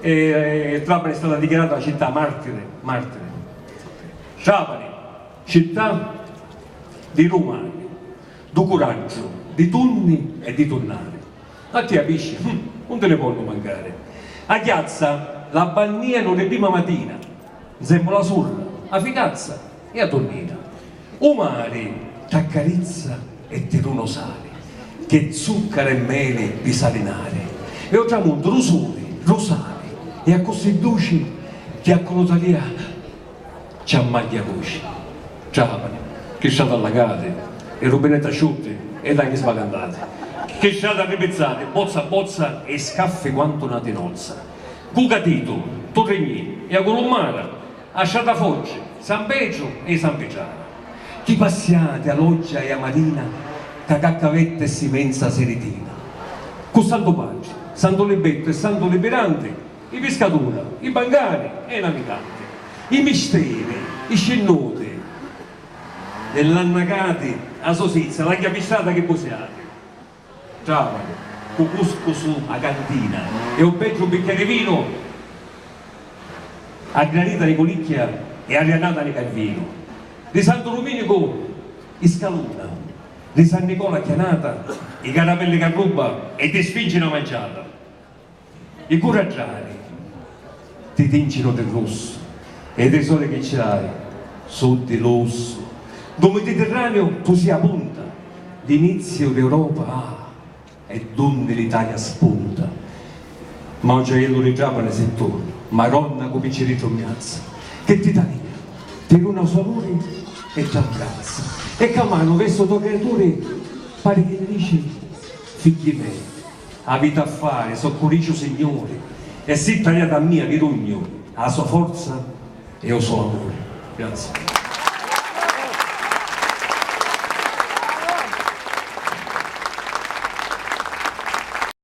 E Trapani è stata dichiarata città martiri, martiri. Trapani, città di l'umani, du curaggiu, di tunni e di tunnari. A tia pisci, hum, un ti li vonnu mancari. A chiazza la bannianu di prima matina, nzemmu la surra, a ficazza. E a tunnina. U mari t'accarizza e ti duna u sali, ch'è zuccaru e meli pi salinari, e o tramuntu lu suli, lu sali, e accussì duci chi a culu talia ci ammagghia duci. Trapani, chi strati allagati, e rubinetti asciutti, e laghi sbacantati, chi strati arripizzati, bozza a bozza, e scaffi quantu na tinozza. Cu catitu, tu rignì, e a culu mari, A Sciatafoggi, San Petru e i San Pitrana. Chi passiati a l'oggia e a marina ca caccavetta e simenza siritina. Cu Santu Patri, Santu Libettu e Santu Libiranti, i piscatura, i bangari e i naviganti. I misteri, i scinnuti e l'annacati a Sosizia, l'agghia pistrata chi busiati. Travalu, cu cuscusu a cantina e u pegghiu un biccheri vinu, a granita di Culicchia e a riannata di Calvinu, di Santu Duminicu i scaluna, di San Nicola a chianata, i caramelli ca rubba e di Sfinci na mangiata. I curragghiari ti tincinu di russu e i trisori chi ci hai su di lussu. Ddu Miditirraniu tu si a punta, l'iniziu d'Europa ah, e d'unni l'Italia spunta. Ma un ciaiellu di Trapani si tu, Maronna cu picciriddu mmrazza, che t'Italia ti duna u so amuri e t'abbrazza. E ca manu vestu to' criaturi pari chi dici, Figghi mei. Aviti a fari, so curiciu Signuri, e si taliati a mia chi rugnu, a so forza e o so amuri. Grazie.